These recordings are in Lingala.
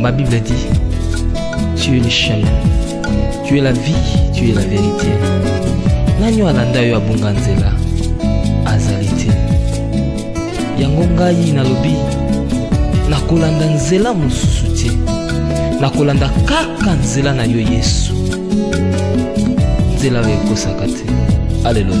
Ma Bible a dit, tu es le chemin, tu es la vie, tu es la vérité. Nani alanda yo abunga nzela azali te. Yango ngai nalobi nakolanda nzela mosusu te. Nakolanda kaka nzela na yo Yesu. Nzela oyo ekosaka te. Alléluia.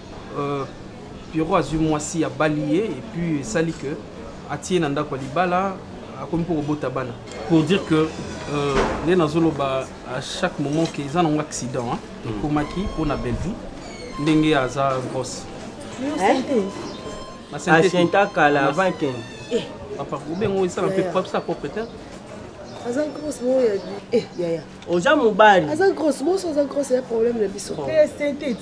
euh, pierrot azwi mwasi abali ye epuis esali ke atie na ndako ya libala akomi mpo kobota bana pour dire que euh, nde nazoloba à chaque moment ke eza nango accident hmm. ekomaki mpo na bellevue ndenge aza grosse asenta kala avant ken eh. papa obengo esala mpe propre sa propre te aza grosse mo ya eh, yaya oza mobali aza grosse moso aza grosse ya problème na biso te oh. esthétique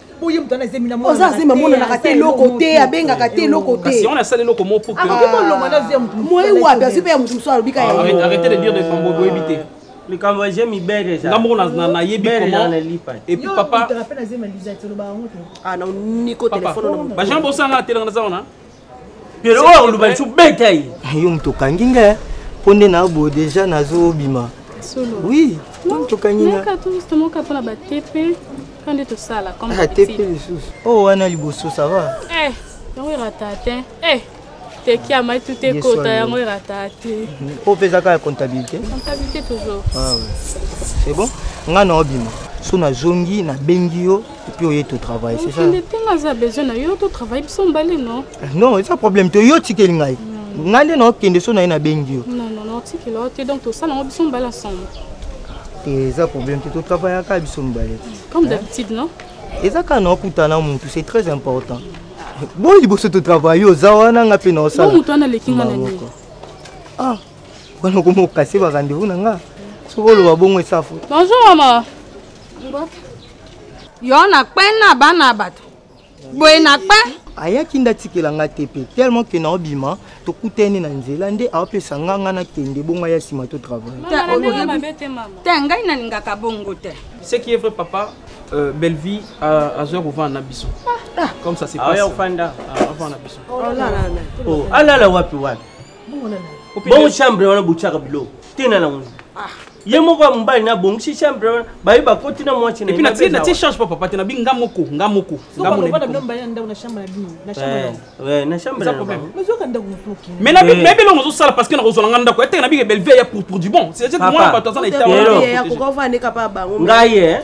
boye moto wana zemi naoza azemi amonanaka te eloko te abengaka te eloko te on asali eloko mo po akoki kolonga na vie ya moto moye wapi azwi mpe ya moto mosusu alobi ka ah, arrete de dire de fambo boyebi te likambo je mibere eza nga moko nayebi epuis papa ah, niko telefone bajean bosanga atelanga naza wana lelo oyo akoluba lisu beta ye yo moto okangi nga eh. mpo nde na boye deja nazobima oui tokangi nga atepe ah, lisusu oyo oh, wana liboso sava eh, yango erata te eh, teki amai tute ekota yango erata te oyo mpe ezaka ya comptabilité comptabilité toujours ah c'est bon ngai naobima so nazongi nabengi yo epuis oye to travaille c'est ça okende te nga aza besoin na yo to travaille biso mbale non non eza problème te yo otikeli ngai ngai nde naokende so na ye nabengi yo non non naotikela yo te donc tosala yango biso mbale ensemble te eza problème te totravaillaka biso mibale comme d'habitude non eza kaka na okutana motu c'est très important boyi liboso totravaille oza wana nga mpe naosala motu wana aleki nga nani ah wana okoma okase ba rendez-vous na nga soki oloba bongo esafu bonjour mama yo na kpe na bana ya bato boye na kpe ayaki nde atikela nga te mpe tellement ke naobima tokutani na nzela nde aopesa nga nga nakende bongo ya nsima to travail te ngai nalingaka bongo te ce qui est vrai papa euh, bellevie euh, azwa kovanda na biso ah. comme ça c'est ah, pas ofanda ah, na biso oh, alala wapi wapi bongo chambre wana botyaka biloko te na nango ah. ye moko ya mobali na bongisi chambre wana baye bakoti na mwasi natie change pa papa te nabi nga moko nga moko nayebi elongo ozosala parce que nakozwala nga ndako etenge nabike belvie ya pour du bon c'est-à-dire mwana bato aza na etat ngai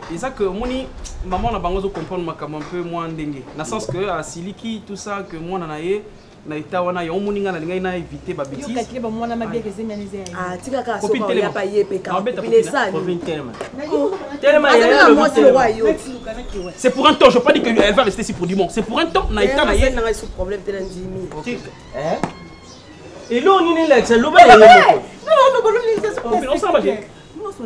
eza que omoni maman na bango azo comprendre makambo un peu mwa ndenge na sens que asiliki tout ça que mwana na ye na eta wana yango omoni ngai nalingaki na éviter ba bêtisekopi telema c'est pour un temps je pas dit que elle va rester si pour du monde c'est pour un temps na eta na ye eloo nini elakisa loba yango moko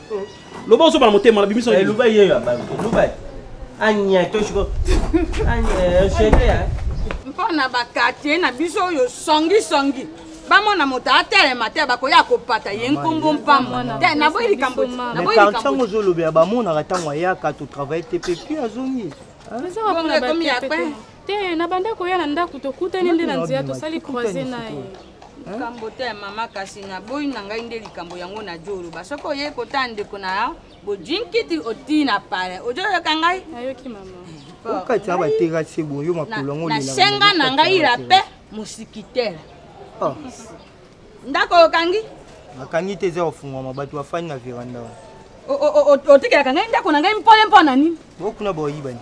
loba ozoba na motema na bimisa eh, loba yeyo abami loba anya toshiko anya shete eh, mpo na bakartier na biso oyo songisongi bamona moto atelema te bakoya kopata ye nkombo mpamba te naboyi likambo naboyiango ozolobela bamonaka ntango ayaka totravaille te mpe pi azongi te na bandako ya na ndako tokutani nde na nzela tosali croise na ye likambo te ya mama kasi naboyi na ngai nde likambo yango na jo oloba soki oyei kotala ndeko na yo bojinkiti otii na pale ojo oyoka ngai nayoki mama okati ya bateka se boyo makolo yango nasenga na ngai rape mosikitere ah. ndako okangi nakangi te eza ofungwama bato bafandi na veranda otikelaka ngai ndako na ngai mpole mpo na nini bokuna boyibani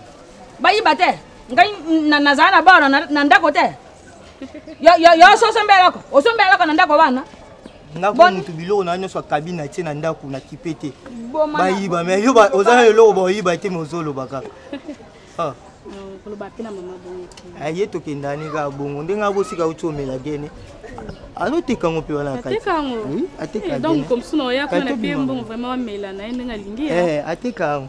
bayiba te ngai nazala na bana na ndako te yoso osombela eloko osombela eloko na ndako wana nga ko mutu biloko na nyonso akabi na tie na ndako na kipe te bayiba me yo oza na eloko baoyiba te me ozoloba kaka ah. ah, ye tokendani kaka bongo ndenge abosika uti omela gene azoteka ngo mpe wana ateka yango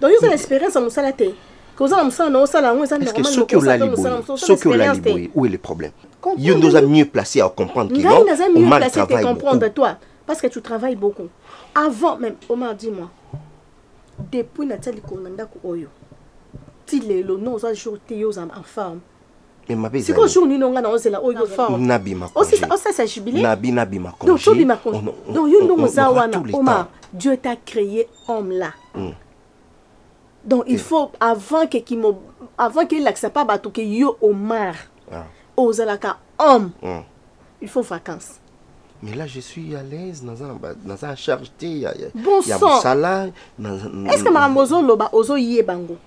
donc yo oza na expérience ya mosala te kozala mosala na osala yango eza normal soki olali boye soki olali boye où est le problème yo nde oza mieux placé à comprendre que non naza mieux placé à comprendre toi parce que tu travailles beaucoup avant même Omar dis moi depuis natia likolo na ndako oyo ti lelo no oza jour te yo oza en forme mais mabe siko jour nini onga na ozela oyo fort na bima aussi aussi ça jubilé na bi na bima congé donc bima congé donc yo ndongo za wana oma Dieu t'a créé homme là mm. donc il faut avant que qui avant qu'il l'accepte pas bato que yo Omar ah. ozalaka homme mm. il faut vacances mais là je suis à l'aise dans un dans un charge te ya ya bon ya mosala est-ce que makambo ozoloba ozoyeba ngo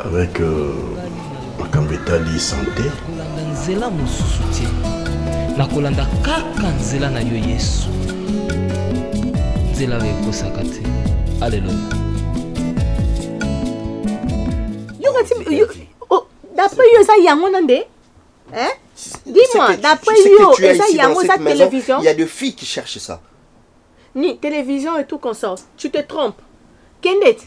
avec euh, makambo etali sante kolanda nzela mosusu te na kolanda kaka nzela na yo yesu nzela oyo ekosaka te aleluya d'après yo eza yango na nde eh? dis-moi d'après yo eza yango eza télévision il y a de filles qui cherchent ça ni télévision et tout consort tu te trompes kendete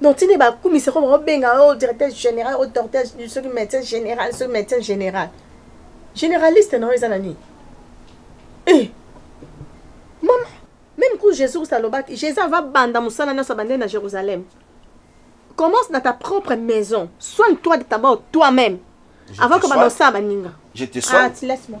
donc tini bakumisa ko baobenga o oh, directeur général o oh, docteur soki médecin général soki médecin général généraliste na yo eza na nini eh mama même ku jésus kristo alobaki jésus ava banda mosala nyonso abandeli na jérusalem commence dans ta propre maison soigne toi de tabord toi-même avant que banda osala baninga ah, laisse moi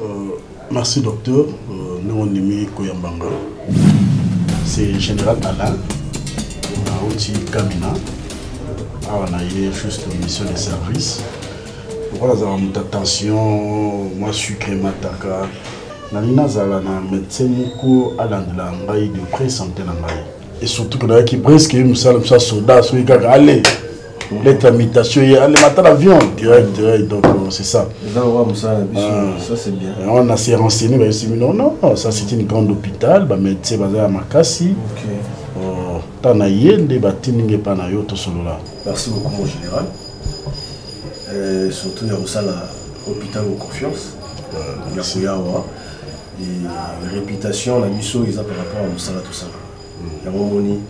Euh, merci docteur euh, ndenge ondimi koyamba nga c'est général alain nauti kamina awa na ye juste mission de service lokola azala moto ya tension mwa sucre mataka nalingi nazala na médecin moko alandela ngai de près santé na ngai et surtout que nayaki presque ye mosala mosa soda soki kaka ale Mhm. lettre ya mutation ye alemata na vion direct direct donc euh, c'est ça yango na se renseigné bayosimi non non ça c'est une grande hôpital bamédecin baza ya makasi ntan na ye nde batindi nge epai na yo tosolola merci beaucoup mon général euh, surtout ya kosala hôpital o confiance ya koya awa réputation na biso eza par rapport ya mosala tosala yango omoni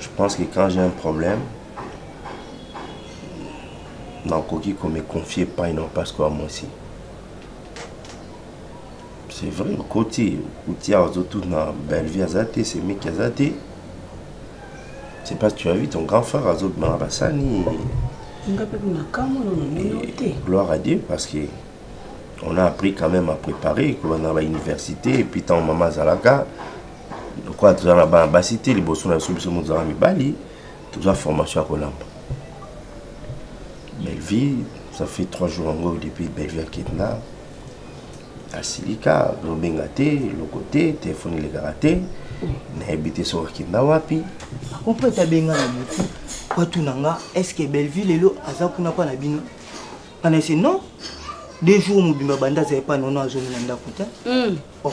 je pense que quand j'ai un problème nakoki ko me confier pai na parce que mwasi c'est vrai okoti okuti awa ozotuna bellevie aza te semeki aza te c'est pas tu as vu ton grand frère azobima na basani gloire à dieu parce que on a appris quand même à préparer kolanda na bauniversité et puis ntango mama azalaka lokola toza na bana basi te liboso na biso biso mozala mibali toza formation ya kolamba bellevie ça fait trois jours yango depuis bellevie akenda asilika tozobenga te eloko te telefone elekaka te nayebi te soki akenda wapi akopo ete abenga na motu watuna nga estce bellevie lelo aza kuna mpa na bino mpana ese non deux jours mobimba banda azali mpa nono azongi na ndako te hmm. oh.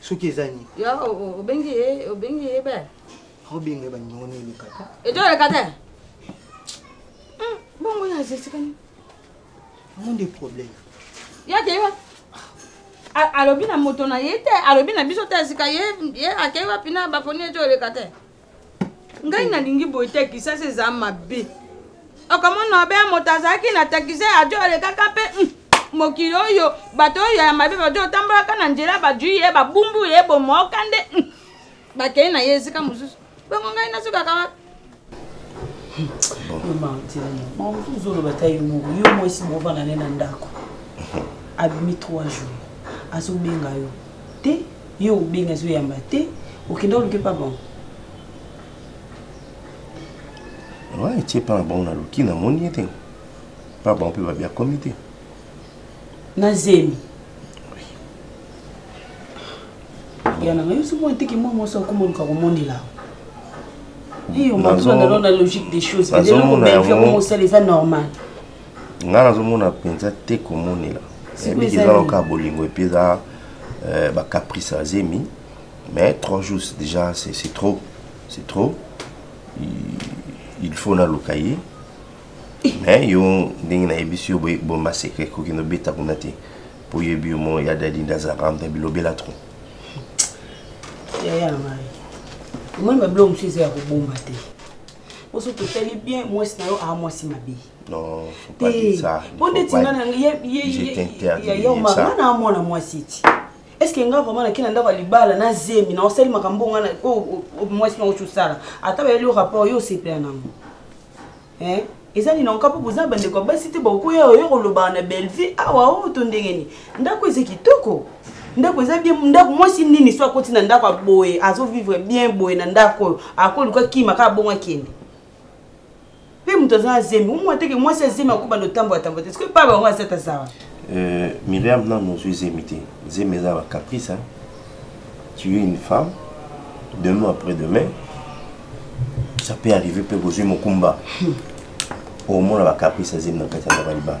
soki eza nini yo obengi ye obengi ye belle obenga bandingo na eleka te eto eleka te hmm, bongo ya zesikani yango nde problème ya te yo alobi na moto na ye te alobi na biso te sika ye akei wapi na baponi eto eleka te ngai nalingi boye te kisasa eza mabe okomona obe ya moto azalaki na takise ajo alekaka mpe hmm, mokili oyo bato oyo ya mabe bajo otambolaka na nzela bajui ye babumbu ye bomoka nde hmm, bakei na ye esika mosusu bongo ngai nasukaka wapi ozoloba ta yo moko yo mwasi bovanda ne na ndako abimi trois jours azobenga yo te Yo obengi azo yamba te, okenda oluke pa bango. Ouais, etie pa na bango na luki na moni ye te. Pa bango pe babia komi te. Na zemi. Ya na ngayo somo ntiki mwa mwa sa komo luka komonela. Iyo, mwa tuna na logique des choses. Nazo mona yango. Nazo mona yango. Nazo mona yango. ngai nazomona mpenza te komonela mingi eza loka bolingo epuis eza euh, bacaprice ya zemi mais trois jours déjà c'est trop c'est trop il faut naluka ye eh. mais yo ndenge nayebisi yo bomba secret kokende obeta kuna te mpo oyebi yo mo ya dadi nde azalaka amta bilobela trop yaya ngai omoni babilo mosusu eza ya kobomba te oso totali bien mwasi na yo aa mwasi mabe po ndeti nga na yaya omar nga na amwana mwasi ti estce nga vraiment nake na ndako ya libala na zemi na osali makambo nga mwasi na oci osala ata bayeli yo rapport yo osepela nango eza nini onka mpo boza bandeko ya basi te bakoya oyo kolobaka na bellevue awa oyo to ndenge nini ndako eza kitoko ndako eza bien ndako mwasi nini so akoti na ndako aboye azovivre bien boye na ndako oyo akoluka kima kaka bongo akende mpe moto aza na zemi omo ateke mwasi ya zemi akobanda otambola tambola te soki pa bango azata zawa euh, miriam nano ozwi zemi te zemi eza bacaprice tu es une femme demain après demain ça peut arriver mpe kozwi mokumba omona bacaprice ya zemi na kati ya ndako ya libala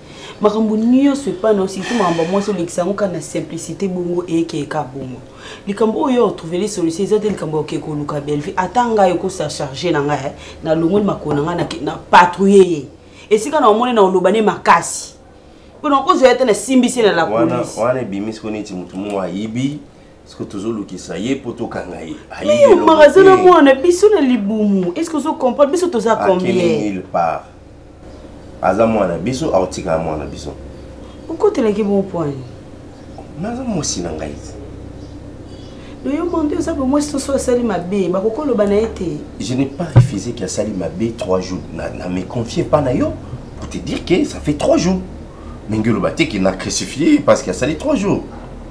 makambo nyonso epai na yo surtout makambo ya mwasi olekisa yango kaka na simplicité bongo eyekeye kaka bongo likambo oyo otrouvele solution eza te likambo ya okeke koluka bellevue ata ngai okosa charge na ngai nalongoli makolo na ngai na patrouille ye esika na omoni na oloba ne makasi mpo na okozwa ye te nasimbisi na la police wana ebimi siko neti motu moko ayibi Est-ce que tozolukisa ye mpo tokanga ye ayomaka aza na mwana biso na libumu est-ce que ozo comprendre biso toza combien part aza mwana biso aotikala mwana biso okotelaki bon point naza mwasi na ngai noyo mondo oza bo mwasi toso asali mabe bakokoloba na ye te je n'ai pas refusé que asali mabe trois jours na, na me confie pas na yo pour te dire que ça fait trois jours ndenge oloba te ke na crucifie parce que asali trois jours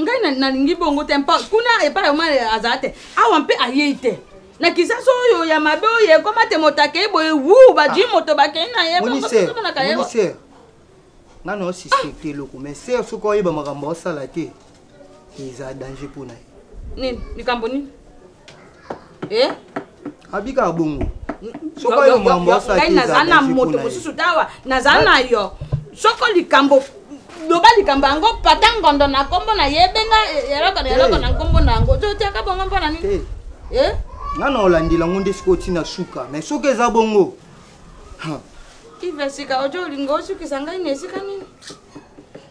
ngai nalingi bongo te mpo kuna epai oma azala te awa mpe ayei te na kisasa oyo ya mabe oyo ekoma te moto akei boye wu bajui ah. moto bakei na ye bongomonaka ye ngai na osuspecte eloko mais ser soki oyeba makambo osala te eza danger mpo na ye nini likambo nini eh? abika bongo sokoyomombosaki naza na moto mosusu tawa naza na yo soko likambo loba likambo yango pata ngondo na nkombo na ye ebenga eloko na eloko na nkombo na yango totiaka bongo mpo na nini eh? nga na olandela yango nde sikoyo ntina suka mais soki eza bongo ive sika ojo olinga osukisa ngai na esika nini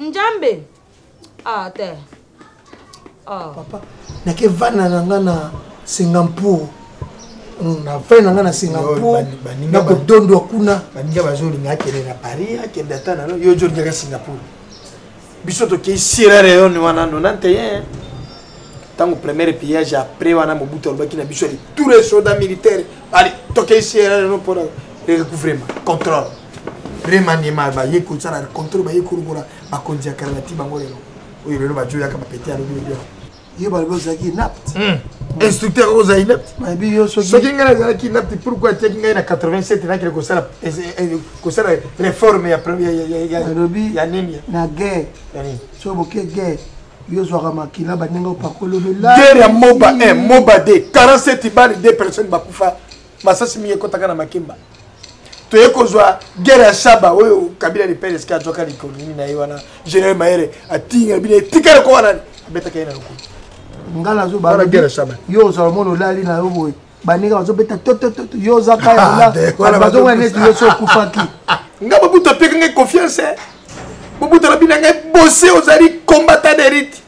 njambe ah te ah. papa nake vana na nga na singampur hmm, na vai na nga na singampur nakodondwa kuna baninga bazolinga akende na paris akende ata nano yo ojo olingaka singampur biso tokei sierra leone wana nona nteyen ntango première pillage après wana mobutu alobaki na biso ali tour esoda militaire ali tokei sierra leone mpona recouvrement contrôle remaniement baye kosala contrôle baye kolokola bakonzi ya kala bati bango lelo oyo lelo bajoyaka bapete alobi lobi yo balobi ozalaki inapt hmm. instructeur oyo ozali inapt soki ngai nazalaki inapt pourkoi atiaki ngai na 87 nakele kosala eh, eh, eh, réforme ya nini na guerre soki boke guerre yo ozwaka makila bandenge opakolobela guerre ya moba 1 moba 2 47 bale 2 personnes bakufa masasi mingi ekotaka na makemba toye kozwa guerre ya shaba oyo kabila de pere eske azwaka likoloni na ye wana general mayere atinga bino etika loko wana abetaka ye na lokolo nga nazoba guerre ya shaba yo ozala mona olali na yo boye baninga bazobeta totototo yo oza kayabazonga ah, neti yo so okufaki nga babuta apeka ngai confiance eh. bobuta na bino ya ngai bose ozali combattant derite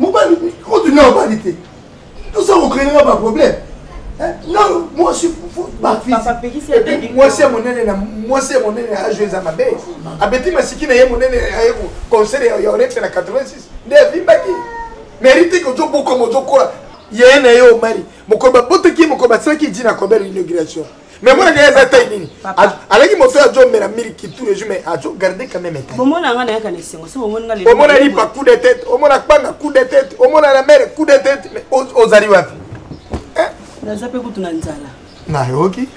mobali kutu na obali te toza kokreinga baproblème mwasi ya monene na mwasi ya monene na ajo eza mabe abeti masiki na ye monene aye conseil ya orete na 86 nde avimbaki merite ke ozobokoma ozokola yeye na ye omari mokolo babotaki ye mokolo basalaki dina kobela inauguration mais mona ngai eza tai nini alaki moto ya jomela miliki tout le jour mais ajo garde quand même tai bomona nga nayaka na esengo so bomoni nga omona lipa coup de tête omona kpanga coup de tête omona na mere coup de tête mais ozali wapi eh? naza mpe kutu na nzala nayoki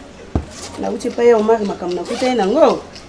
nauti epai ya omari makambo nakutani nango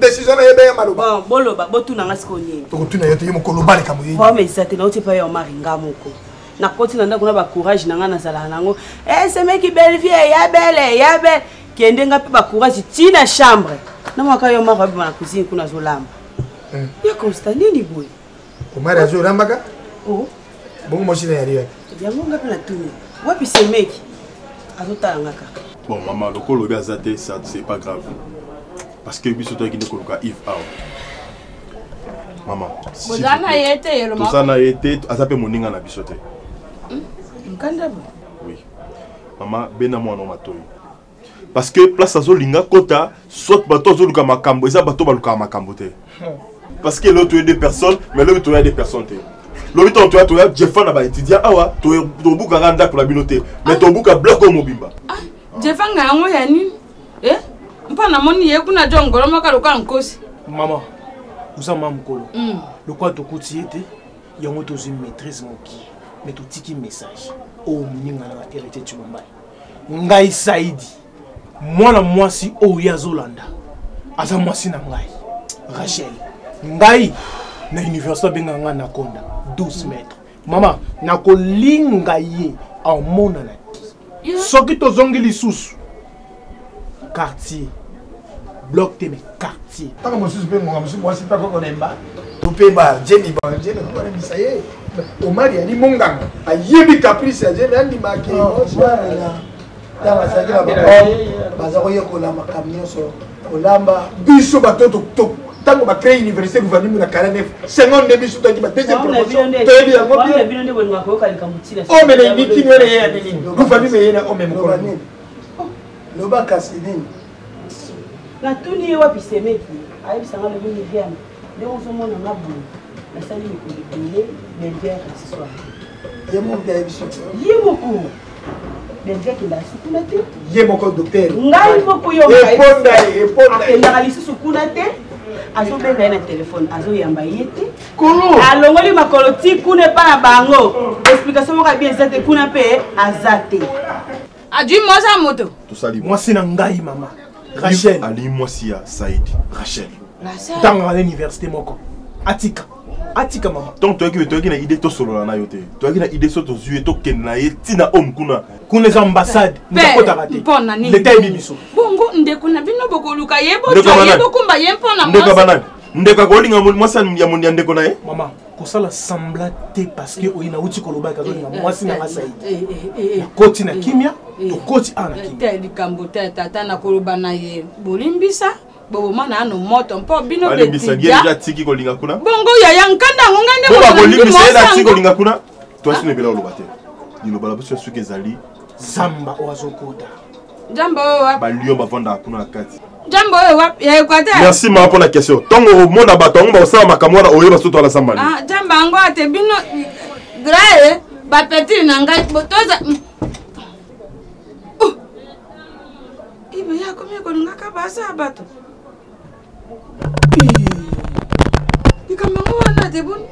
décision na ye beye maloba boloba botuna nga sikoyo nini tokotuna yo te ye mokolo oba likambo ye problème eza te nauti epai ya omari nga moko nakoti na ndako na bacourage na ngai nazalaka nango eh, esemeki bellevie ya bele ya bele kende nga mpe bacourage ti na chambre na mwaka yo omari abima na cuisine kuna azolamba eh. ya constat nini boye omari azo rambaka oh. bongo mwasi na yali yapi yango nga mpe natuni wapi semeki azotala nga kaka bon mama lokola obi aza te ça c'est pas grave parce que biso toyaki nde koluka ive awa mama boza na ye te toza na ye te aza mpe moninga na biso te hmm? nkanda oui mama bena mwana matoi parce que place azolinga kota soit bato azoluka makambo eza bato balukaka makambo te parce que loto ye deux personnes mais lobi toya deux personnes te lobi ntango toya toya jefa na baétudiant awa tobukaka ndako na bino te mais ah. tobuka bloc oyo mobimba ah, jefa nga yango ya nini eh? mpo namoni ye kuna jo ngolo moko lokola nkosi mama oza mama mokolo hmm. lokola tokuti ye te yango tozwi maîtrise moki mais totiki message oyo oh, moninga na baheritier tshilombai ngai saidi mwana mwasi oyo ye azolanda aza mwasi na ngai rachel ngai na université abenga ngai nakonda 12 mètre mama nakolinga ye amonana te soki tozongi lisusu quartier bloc te mais quartier ntango mosusu mpe ngonga mosusu mwasi mpe akokolemba to mpe bajemi bajemi akokolembisa ye omari ali monganga ayebi caprice ya jemi andimaki oh, ntango azalaki na bahomme baza koyekola makambo nyonso kolamba biso bato tokitoko ntango bacree université gouvernement na kala nef sengon nde biso toyaki badeuxième promotion toyebi yango omena enikini wana ye ya nini gouvernement eyena ome mokolo loba kasi nini natuni ye wapi semeki ayebisa nga lobi miriame ndenge ozomona nga boye nasali mikolo ebele belvia asiswa ye moko ayebisi ye moko belvia akenda lisusu kuna te ye moko docteur ngai moko yo akendaka lisusu kuna te azobenga ye na telefone azoyamba ye te alongoli makolo ti kuna epa na bango explication moko abi eza te kuna mpe aza te adui ah, mwasi ya moto tosali mwasi na ngai mama rachel alingi mwasi ya said rachel ntango na université moko atika atika mama donc toyaki toyaki na idée tosolola na yo te toyaki na idée so tozwi ye tokende na ye ntina home kuna kuna eza ambassade nakotaka te leta yebi biso bongo ndeko na bino bokoluka ye bokokumba ye mpo na ndeko ya banani ndeko akolinga mwasi ya ndeko na ye mama kosala sembla te parce que oye nauti kolobaka azongi na mwasi na nga saidi eh, eh, eh, nakoti na kimia tokoti awa na kimia likambo te tata nakoloba na ye bolimbisa boboma nano moto mpo bino betiki kolinga kuna bongo yaya nkanda yango ngai nde bolimbisa ye natiki kolinga kuna twasi nebela oloba te liloba na biso ya suki ezali samba oyo azokota Njamba oyo wapi? Ba lion bavanda kuna na kati. Njamba oyo wapi? Ya Equateur. Merci mama pona question. Tongo omona bato yango bakosala makambo wana oyeba soki toala sambali. Ah, njamba yango ate bino grae ba petit na ngai botoza ibe ya komi kolingaka basa bato likambo yango wana te boni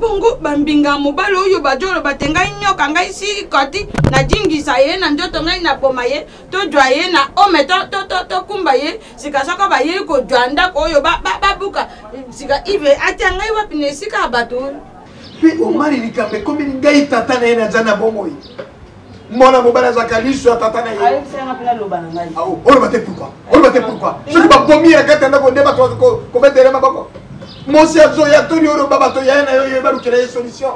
bongo bambinga mobali oyo bajolo bate ngai nyoka ngai sikoti najingisa ye na nzoto ngai naboma ye tozwa ye na ome tokumba ye sika soko bayei kozwa ndako oyo babuka sika ive atya ngai wapi na esika ya bato oyo mpe omari likambo ekomeli ngai tata na ye naza na bomoi mwana mobali azalaka liso ya tata na ye oloba te pourkui oloba te pourkui soki babomi ya kati ya ndako nde bato kobetele maboko mosi ya zo ya toli oyo baba to yaye na yo yo balukela ye solution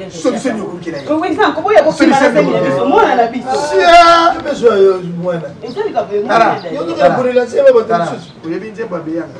solution yokolukela ye oyebi nzembo abeyanga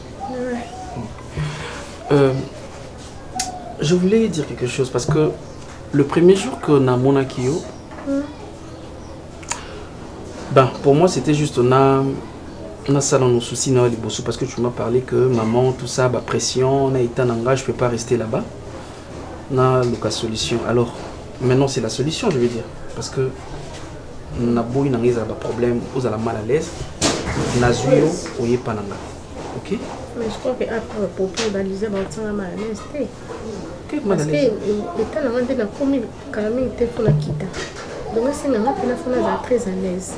Euh, je voulais dire quelque chose parce que le premier jour que na monaki yo mm. ben pour moi c'était juste na on a ça dans nos soucis na liboso parce que tu m'as parlé que maman tout ça ba pression na état nanga je peux pas rester là-bas na luka solution alors maintenant c'est la solution je veux dire parce que na boyi nanga ezala ba problème ozala mal à l'aise nazwi yo oyepa nanga ok mais je crois que après popo balise baotinga mayonnaise te parce que euh, etat na nga nde nakomi kala mingi te mpo nakita donc esenga nga mpena mpo nazala très à l'aise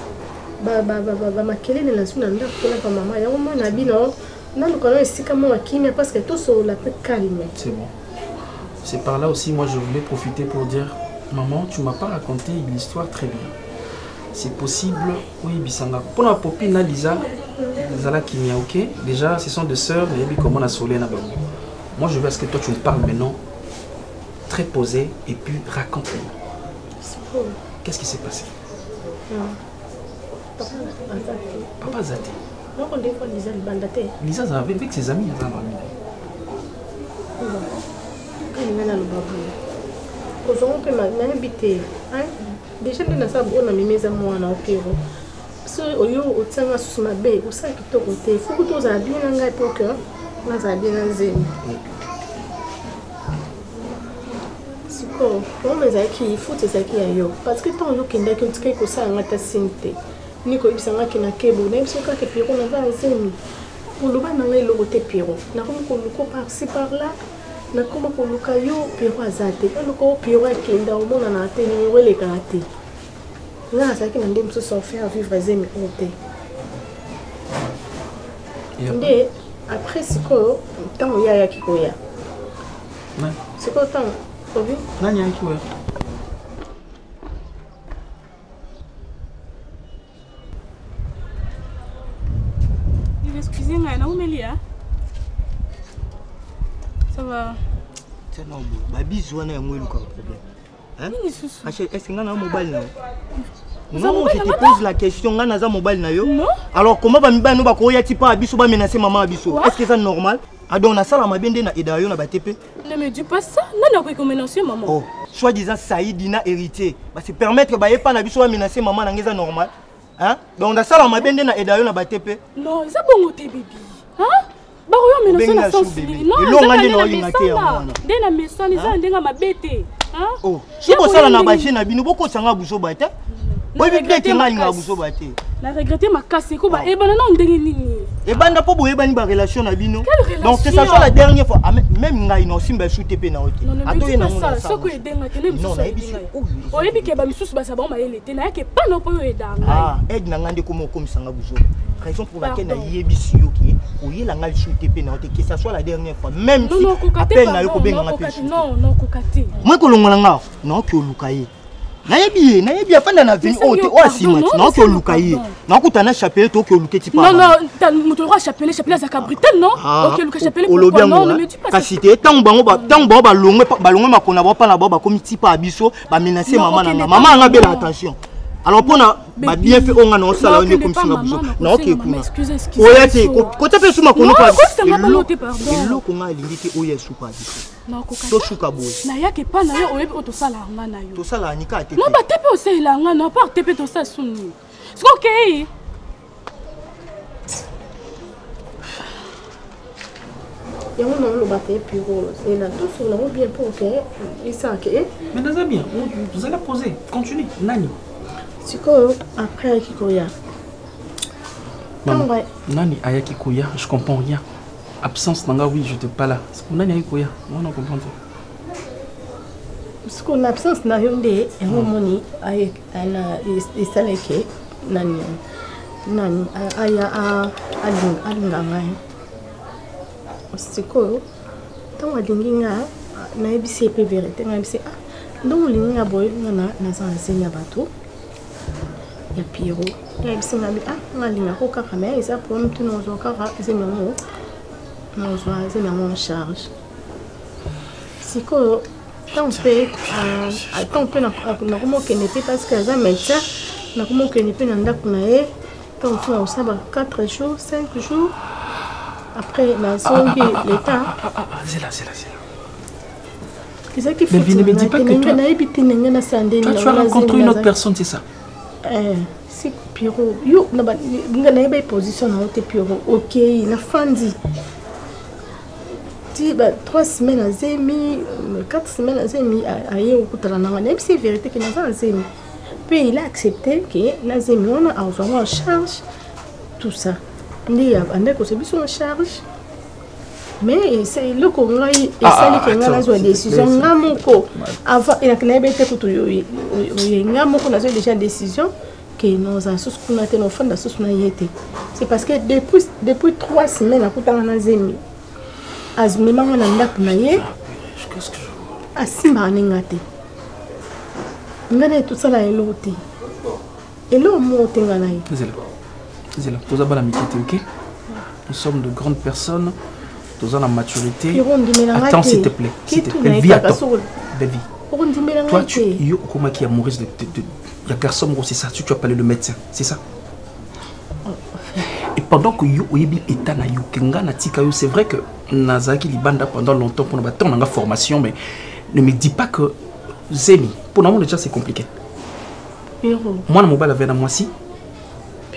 bamakelele nazwi na ndako mpona pa mama yango moi na bino naluka na esika moko ya kimia parce que tosolola mpe calme c'est bon c'est par là aussi moi je voulais profiter pour dire maman tu m'as pas raconté l'histoire très bien c'est possible oyebisa nga mpo na popi na liza zala kimia ok déjà ce sont deux sœurs nayebi comment na soleil na bango moi je veux ce que toi tu me parles maintenant très posé et puis raconte moi qu'est-ce qui s'est passé papa aza te liza aza avec ses amis aza bami ozongo mpe nayebi te deja nde naza bona mimi eza mwana okero so oyo otianga susu mabe osala kitoko te fuku to ozala bien na ngai po ke nazala bien na nzemi sikoyo problème ezalaki faute ezalaki ya yo parce que ntango yo okendaki otikaki kosala ngai ta sini te ni koyebisa ngai ke na kebo nayebi so kaka pierro naza na zemi oloba na ngai eloko te pierro nakomi koluko parci par là nakoma koluka yo pierro aza te oluka yo pierro akenda omonana te nimero elekaka te nga nazalaki na nde mosusu enfaire vivre zemi oyo te nde après sikoyo ntango ye ayaki koya sikoyo ntango obi nani ayaki koya Excusez moi na umeli ah. Ça va. C'est normal. Ba bizu wana yango eluka problème. Hein? Nini susu? Ache, est-ce que nga na mobali na yo? Non, je te pose la question, nga naza mobali na yo. Non. Alors comment ba mibali no ba ko ya tipa biso ba menacer maman biso? Est-ce que c'est normal? adon ah, nasala mabe nde na eda yo na batepe Ne me dis pas ça. Nani akoki ko menacer maman? Oh, soit disant Saïdi na héritier. Ba se permettre ba yepa na biso ba menacer maman na ngeza normal. Hein? Donc na sala ma bende na edayo na ba tepe. Non, eza bongo te bibi. Hein? Ba ko yo menacer na sens ni. Non, elonga nde na olinga te ya mwana. Nde na mesana eza ndenga mabete. Hein? Oh. soki bosala na baje na bino bokotisa ngai buzoba te boyebi te ete ngai ngai buzoba te na regrette makasi eko bayebana nao ndenge nini ebanda mpo boyebani barelation na bino donc que ça soit la dernière fois ah, même ngai na osimba esu te mpe na yo te atoye nango nayebi ke bamisusu baza bango mayele te nayaki epa na mpo yo oyeda ngai ah, aide na ngai nde koma okomisa ngai buzoba raison pour laquelle nayebisi yo ke oyela ngai lisusu te mpe na yo te que ça soit la dernière fois même si appel na yo kobenga ngai mpe moi kolongola ngai naoki oluka ye nayebi ye nayebi afanda na vini oyo te oyo asima ti naoki oluka ye naokuta na chapele te oki oluke ti pamoto lokola chapele chapele azalaka brital non ah, oki oluka chapele olobi yango kasi te ntango bango balongwe makona bao mpa na bao bakomi tipa ya biso ba menacer maman na nga maman nga bela attention alors mpona babienfe oyo nga na osala yo nde ekomisinga buzo naoke kuna oya te kota mpe esu makono eloko nga alingi te oyo esuka biso tosuka boye nayaki epa na yo oyebi oyo tosalaka nga na yo tosalaka nika te no bate mpe osalela nga na apart te mpe tosala suni Siko kei. yango na oloba te piro c'est na tout sur nango bien pour que isa ke eh? mais naza bien zala posé continue nani sikoyo après ayaki koya ntango nani ayaki koya je comprends rien absence na nga oui je te pas là sikoyo nani ayaki koya wana comprendre sikoyo na absence na yo nde yango omoni ayeki ana esaleke nani nani aya alinga ngai sikoyo ntango alingi nga nayebisi ye mpe verité nayebisi ah ndongo olingi nga boye nga naza na zemi ya bato ya piro nayebisi nga bi ah nga alingako kaka me eza po mituna ozwa kaka zemi yango nazwa zemi yango en charge sikoyo ntango mpe ntango mpe nakomokende mpe parce que aza médecin nakomokende mpe na ndako na ye ntango mosusu nakosala ba 4 jours 5 jours après nazongi l'état zela zela zela ezalaki fitnanga nayebi te ndenge nasala nde tu as rencontré une autre personne c'est ça eh, si piro yo nga nayebi position na yo te piro okei nafandi ti ba trois semaines na zemi quatre semaines na zemi aye okutana nanga nayebisi ye vérité ke naza na zemi mpe il a accepté ke na zemi wana azwango en charge tout ça nde abandaki kozwa biso en charge mais eloko ngai ah, esali ke ah, ngai nazwa décision nga moko avant nayebi te kutu oye nga moko nazwa déjà décision ke noza susu kuna te nofanda susu na ye te c'est parce que depuis, depuis trois semaines akutanga na zemi azimemanga na ndako na ye asimbaka ne nga te nga na ye tosala eloko te eloko moko te nga na ye zela toza bana mike te ok nous sommes de grandes personnes toza na maturité attends s'il te plaît s'il te plaît vie attends baby toi tu yo okomaki amoureuse de, de, de ya garçon moko c'est ça tu, tu as parlé de médecin c'est ça oh. et pendant que yo oyebi état na yo ke nga natika yo c'est vrai que nazalaki libanda pendant longtemps mpona batemp nanga formation mais ne me dis pas que zemi mpo namona déjà c'est compliqué mwana mobali avea na mwasi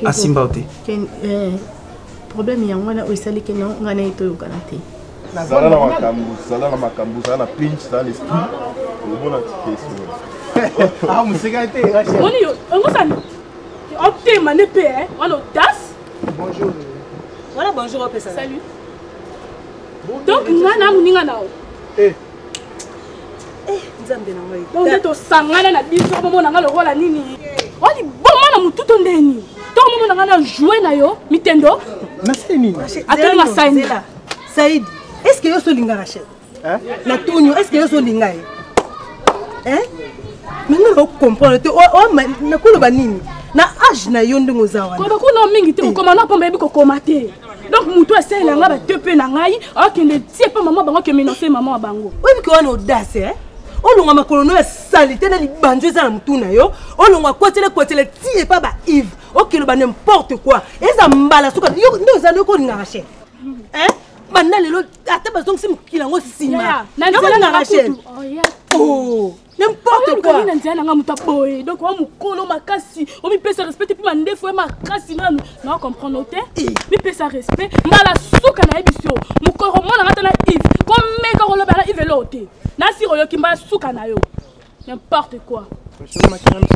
asimba yo te problème yango wana oyo esali ke ngai na ye toyokana te zala na makambo zala na makambo zala na pinch zala na esprit omona tikesoni ah, moseka te oni yo ongosani otema ne mpe eh, wana odas bonjour wana bonjour opesa salut donc ngai na moninga na yo eh. eh, nzambe na ngai to nde tosangana na biso bomona ngai lokola nini o liboma na motu to nde nini to momona ngai na joue na yo mitendo nasali nini atali na saini saidi est ce que yo solinga rachel na tuni est ce que yo solinga ye manga na ocomprendre te nakoloba nini na age na yo ndenge oza wana koba kuna mingi te kokoma na mpamba yebi kokoma te donc moto asalela ngai batepe na ngai akende tie mpe mama bango ake menonce mama wa bango oyebiki wana odase eh? olonga makolo no ya salite na libanzo eza na motu na yo olonga kwatele kwatele ti epa ba ive okeloba n'importe quoi eza mbala suka nde oza nde okolingaka chere eh? banda lelo ata bazongisi mokili yango nsima n'importe quoi okani na nzela na ngai moto aboye donc oa mokolo makasi omipesa respect te mpe mandefu ya makasi nanu na comprendre te eh. mipesa respect mbala suka na yebisi yo mokolo komona nga ta na ive komeka koloba na ive eloo te nasi oyoki mbala suka na yo n'importe quoi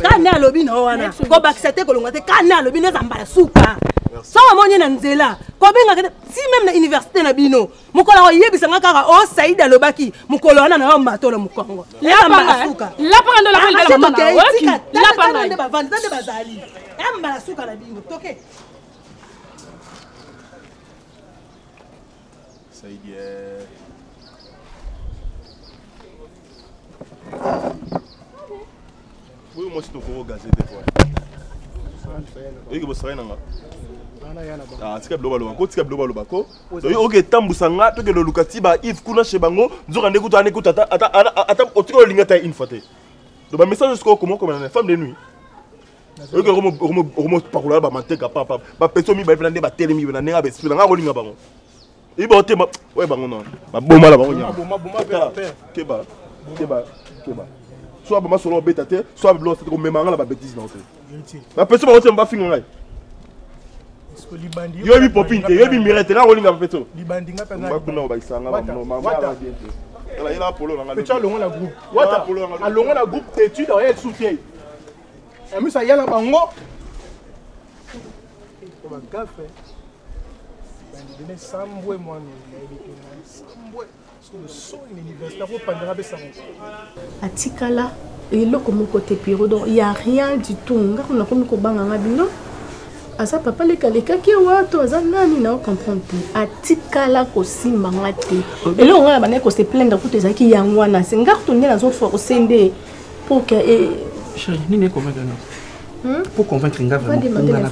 kani alobi na yo wana kobakisa te kolonga te kani alobi na eza mbala suka soki omoni ye na nzela kobengaka ti meme na université na bino mokolo akoyebisa nga kaka o oh, saidi alobaki mokolo wana na yo matolo mokongo lapangasuka lapanga ndo lapangande bavandi nde bazali yambala suka na bino toke saidi eh. Oui, moi, c'est au gazé des fois. Oui, que vous serez là. Ah, tika biloba loba ko tika biloba loba ko oyo oke etambusa nga tokende oluka ti ba ive kuna chez bango nzoka nde kutu ane kutu ata ata ata otika olinga ta une fois te do ba message sikoyo koma okoma na femme de nuit oyoki okomopakola ba manteka papa bapesi yo mibale mpena nde batelemi na ndenge ya baesprit na ngai akolinga bango iba otema oye bango na baboma na bango nyakeba keba keba so aboma solo obeta te so ablo te komema nga na babetise na yo te bapesi bango te bafinga ngai yoyebi popine te yoyebi mire te nga kolinga bapeto bakuna bakisanga alongola groupe alongola groupe tetude aye soutien amisa yala bango bagafe bandele sambwe mwana nayebi te sambwe sikoyo soni na université akopandaka mpe sango atikala eloko moko te piro donc ya rien du tout nga kuna komi kobanga nga bino aza papa leka alekaki awa to aza nani na ocomprendre te atikala kosimba nga te eloko nga na bandaki kose plaindre kutu ezalaki yango wana se nga kutu nde nazoforce nde poke nini ekomaki wana po convaincre nga vraiment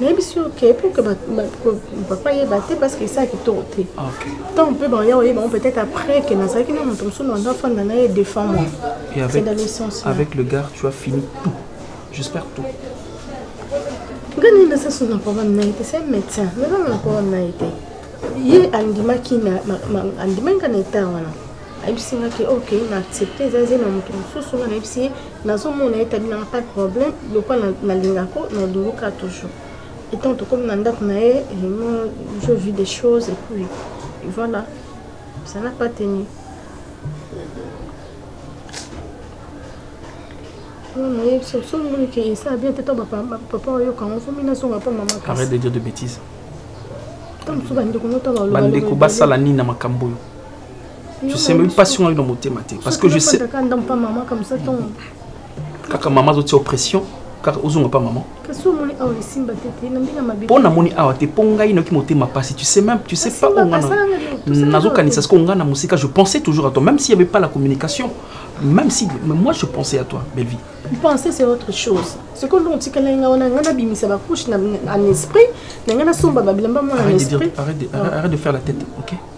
nayebi sur que pour que papa yeba te parce que esala kitoko te tant mpe baya oyeba yango peut-être après que nazalaki na moto mosusu nanda afanda na ye défend moi c'est dans le sens avec le gars tu as fini tout j'espère tout nga nini nasasusu na problème na ye te c'est un médecin nazanga na problème na ye te ye andimaki andimaki nga na etat wana ayebisi nga ke ok na accepte eza eza na moto mosusu nga nayebisi ye nazomona ete abinaka pas de problème lokola nalingako nalunguka toujours etant tokomi na ndako na ye moi je vis des choses et puis voilà ça n'a pas tenu soki ke esala bien te to papa oyoka yango somi nazonga mpo mama arrête de dire de bêtise bandeko basala nini na makambo oyo tu sais même pas si on a eu dans mon thème parce que je sais kaka mama azotia oppression kaka ozonga pa mama mpo namoni awa te mpo ngai noki motema mpasi tu sais même tu sais pas onga nazokanisa siko ngai na mosika je pensais toujours à toi même s'il y avait pas la communication même si mais moi je pensais à toi bellevie penser c'est autre chose sikoyo ndongo otikalaki ngai wana ngai nabimisa bacouche en esprit na ngai nasomba babilamba mwana en esprit arrête de faire la tête ok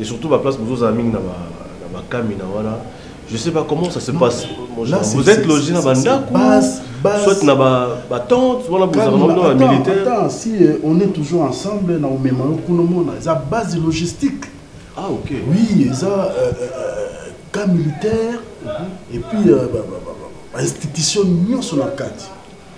et surtout ba place bozozala mingi na bakamina wana je sais pas comment ça se passe là, vous êtes logé na bandako soit na batente wana bozala na militaire attends si euh, on est toujours ensemble na omema yo kuna omona eza base logistique ah ok oui eza euh, euh, cas militaire mhm. et puis ba institution nyonso na kati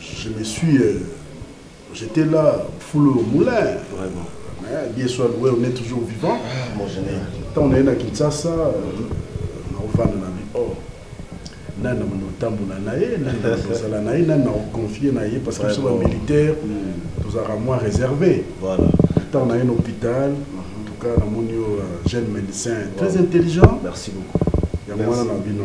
je me suis euh, j'étais là full au moulin vraiment mais bien soit loué on est toujours vivant ah, mon général tant on est na Kinshasa na ofana na bi oh nani namona otambola na ye nani ozala na ye nani na oconfie na ye parce que biso bamilitaire mm. tozalaka mwa réservé ntango na ye na hôpital mm-hmm. entuka namoni yo euh, jeune médecin très intelligent merci beaucoup yango wana na bino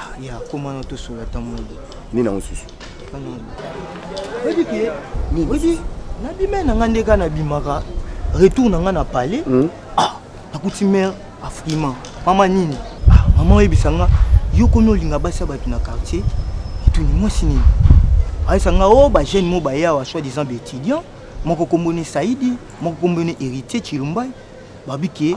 Ah, ya koma na tosola ata mondo nini yango susu oyebi ke oyebi nabima na ngai nde kaka nabimaka retour na ngai na palais hmm? ah, nakuti mare afrima mama nini ah, mama oyebisa nga yo komi olinga basi ya bato na quartier etuni mwasi nini ayesa nga o oh, bajeune mo baye awa soit disant baétudiant moko kombone saidi moko kombone héritier chilumbai babike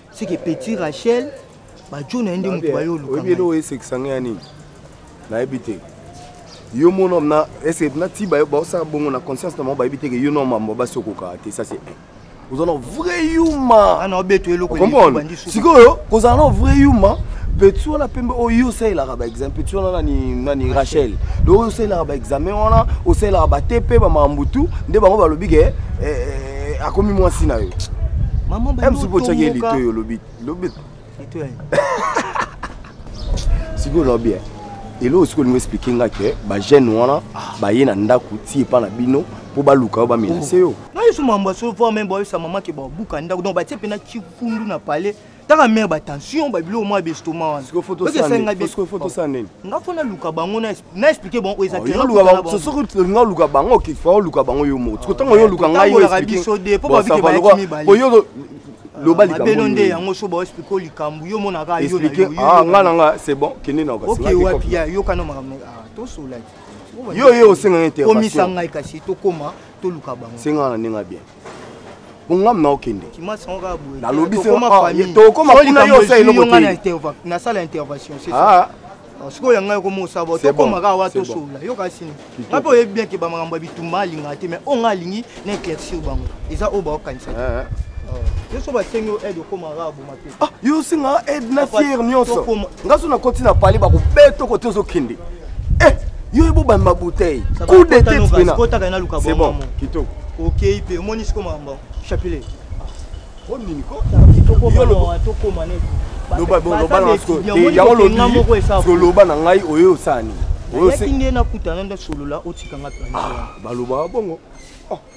seke petit rachel bajo na ye nde moto baye olukaelo esekisa ngai ya nini nayebi te yo mon homme na ese na ti bayo baosala bongo na conscience na bango bayebi te ke yo no mambo basi okokaka te ça c'est un ozala vrai yuma ah, comprendre sikoyo kozala na vrai yuma petit wana pembe oyo osalelaka baexamen petit wana nani nani rachel donc oyo osalelaka baexamen wana osalelaka bate mpe bamakambo tu nde bango balobi ke eh, eh, eh, akomi mwasi na yo msupu otyaki ye lito yo lobi lobi sikoyo lobi eh. eloko sikoyo olingo explike nga ke bajeune wana baye na ndako ti epa na bino mpo baluka yo bamenase yo oh. nayesu mambo ya soforme boyesa mama ke babuka ndako donc batie mpena kifundu na palais taka mare batension babiloko mwa bestoma wananga fo naluka bango na explike bango oezaolinga oluka bango fa oluka bango yo moko tiko ntango yo oluka ngai biso de mpo babikebaaoyo loba likambo nde yango so baexplike o likambo yo monaka yongai ah, na nga c'est bon kende na oke wapi ya yokana makambo ah, tosolaki yo ye osenga intervation komisa ngai kasi tokoma toluka bango senga na ndenge bien bongamu na okende nalobi tokoma kuna yo osala eloko nasala intervention ah. oh, sikoyo ya ngai okoma osala bo tokoma kaka wa tosolola yo kasi nini ngai mpe oyebi bien ke bamakambo ya bitumba alingaka te mais oyo ngai alingi na éclaircir bango eza oyo baokanisaki eh, eh. oh. yo so basengi yo aide okoma kaka boma Ah, yo osenga aide na fiere nyonso nga so nakoti na pale bakobeta kote ozokende eh, yo ebobami babouteille coup de tete pena c'est bon kitoko okei mpe omoni siko makambo chapelet loba na ngai oyo osani oyaki nde nakutana nde solola otikanga ah, baloba bongo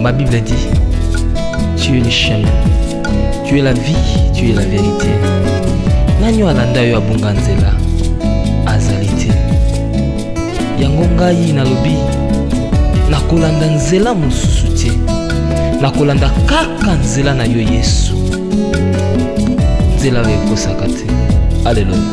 Ma Bible dit, tu es le chemin, tu es la vie, tu es la vérité. Nani alanda yo abunga nzela azali te. Yango ngai nalobi nakolanda nzela mosusu te. Nakolanda kaka nzela na yo Yesu. nzela oyo ekosaka te aleluya